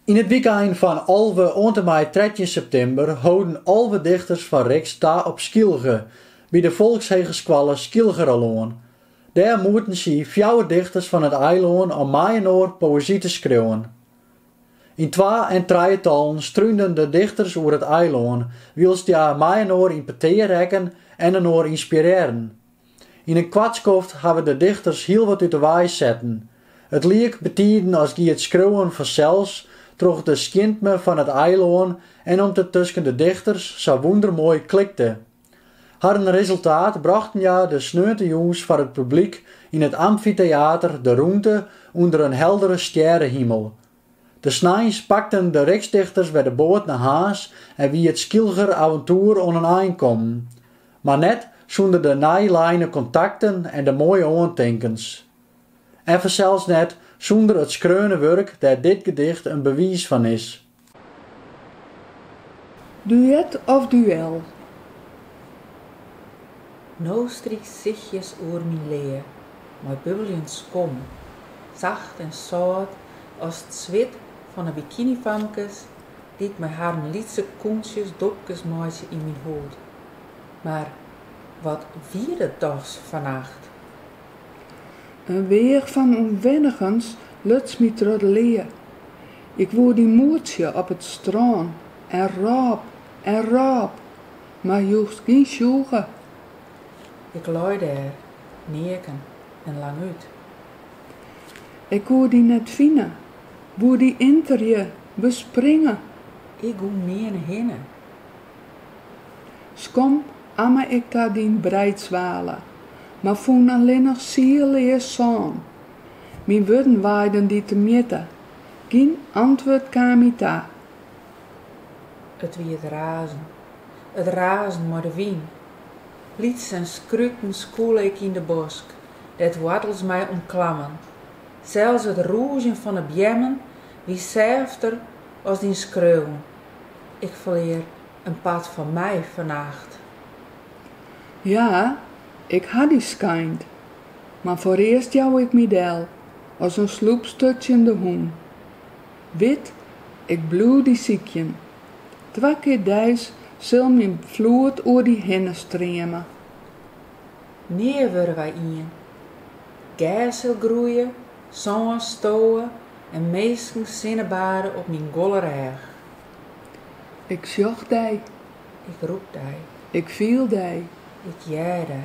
Yn it wykein fan alve oant en mei trettjin septimber holden alve dichters fan RIXT ta op Skylge, by de Folkshegeskoalle Skylgeralân. Dêr moeten sy fjouwer dichters fan it eilân, om mei-inoar poëzy te skriuwen. Yn twa- en trijetallen strúnden de dichters oer it eilân, wylst hja mei-inoar yn petear rekken en inoar ynspirearren. Yn in koart skoft hawwe de dichters hiel wat út de wei setten. It liek betiden as gie it skriuwen fansels troch de skjintme fan it eilân en om't it tusken de dichters sa wûndermoai klikte. Harren resultaat brochten hja de sneontejûns foar it publyk yn it amfiteater De Rûnte ûnder in heldere stjerrehimel. De sneins pakten de RIXT-dichters wer de boat nei Harns en wie it Skylger aventoer oan in ein kommen. Mar net sûnder de nij leine kontakten en de moaie oantinkens. En fansels net sûnder it skreaune wurk dêr't dit gedicht in bewiis fan is. Duet of duel? No strykt sichjes oer myn lea. mei bubbeljend skom, sacht en sâlt as it swit fan 'e bikinifamkes dy't mei harren lytse kontsjes dobkes meitsje yn myn hûd. Mar wat wie dat dochs fannacht! In weach fan ûnwennigens luts my troch de lea. Ik woe dy moetsje op it strân en rôp en rôp, mar joechst gjin sjoege. Ik lei dêr, neaken en langút. Ik koe dy net fine, woe dy enterje, bespringe. Ik koe nearne hinne. Skom amme ik ta dyn breidswale, mar fûn allinnich sielleas sân. Myn wurden waaiden dy te mjitte, gjin antwurd kaam my ta. It wie it razen, it razen mei de wyn Lyts en skruten skûle ik yn de bosk, dêr't woartels my omklammen. Sels it rûzjen fan 'e beammen wie sêfter as dyn skreauwen. Ik ferlear in part fan my fannacht. Ja, ik ha dy skeind, mar foarearst jou ik my del as in sloepsturtsjende hûn. Wit, ik bliuw dy sykjen. Twa kear deis sil myn floed oer dy hinne streame. Nea wurde wy ien. Gers sil groeie, sân stowe en minsken sinnebade op myn golle rêch. Ik sjoch dy. Ik rûk dy. Ik fiel dy. Ik hear dy.